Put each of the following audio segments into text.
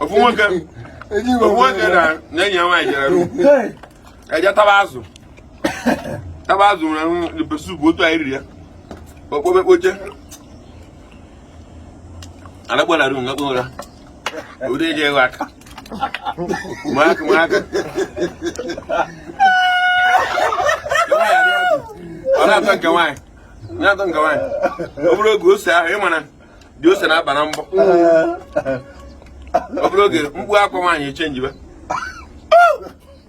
ofu nwoke ofu nwoke na na enyi ya nwaanyị jere ru eje taba azụ taba azụ nwere pepper soup otu anyị riri ya okpobe kpoche anagbara ru ngakpụ ụra ụdị eji ewe aka mụ aka mụ aka ọ na-atọ nke nwaanyị na-atọ nke nwaanyị ọ bụrụ oge ose ahụ ị ma na dị ose na-aba na mbọ ọ bụrụ oge mkpu akwa nwaanyị echenjiba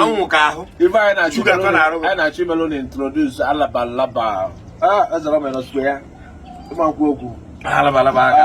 anwụ ka ahụ ife anyị na-achọ imelụ na introdus alaba laba ezara m ya n'ọsụkwe ya ịmakwu okwu alaba laba aka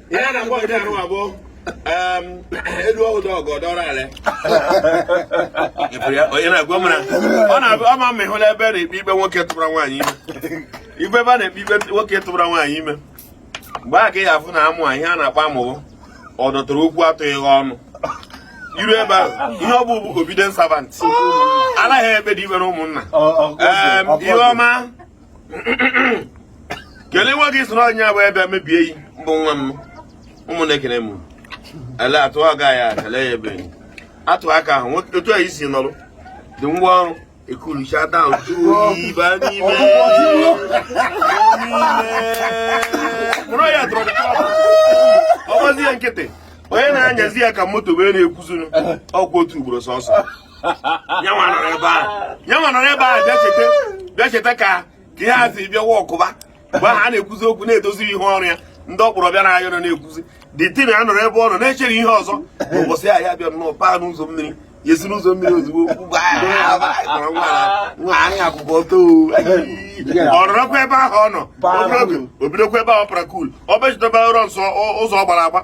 ihe a na-agwa gị arụ abụọ elu ọhụrụ ọgọ dọrọ ala onye na-agwa m na ọ na-abụ ama m ịhụla ebe a na-ekpe ikpe nwoke tụbara nwaanyị ime ibe ebe a na-ekpe ikpe nwoke tụbara nwaanyị ime mgbe a ka ị ga-afụ na amụ ihe a na-akpọ amụ wụ ọ dọtara okwu atụghị ọnụ i ru ebe ahụ ihe ọ bụ bụ obidient savant anaghị ekpe dị ibe na ụmụnna ihe ọma kelee nwa gị soro anyị abụ ebe mebie yi mbụ nwa m ụmụ na-ekene m ele atụ aga ya kele ya ebe atụ aka ahụ otu a isi nọrụ dị ngwa ọrụ ekulucha down tó ibà n'ime mụrụ ya dọrọ ọgbazi ya nkịtị onye na-anyazi ya ka moto wee na-ekwuzunu ọkwa otu ugboro sọsọ nyanwa nọrọ ebe a nyanwa nọrọ ebe a bịa cheta bịa cheta ka ka ihe a si bịa wọkụba mgbe ahụ a na-ekwuzi okwu na-edozi ihe ọrụ ya ndị ọkpọrọ bịa na ayọ nọ na-ekwuzi dị tin a nọrọ ebe ọ nọ na-echere ihe ọzọ n'ụbọchị a ya bịa nnọọ paa n'ụzọ mmiri ya esi n'ụzọ mmiri ozugbo ugbu a, a, a, a, nwa a, nwa a, anyị akwụkwọ ọtọ o. ọ nọrọkwa ebe ahụ ọ nọ Paa obere oge, n'ụzọ. o bidokwa ebe ahụ ọ para kul ọ bechitaba ụrọ nsọ ọ- ụzọ ọ gbara agba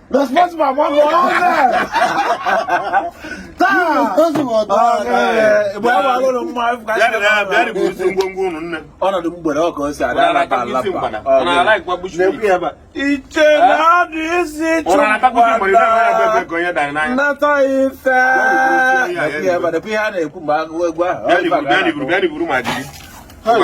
Responsible ama ọ ọnọdụ mgbere ọka osi ada alaba alaba iche na adụ isi chụkwata ife ihe a na-ekwu mgbe agụ egwu ahụ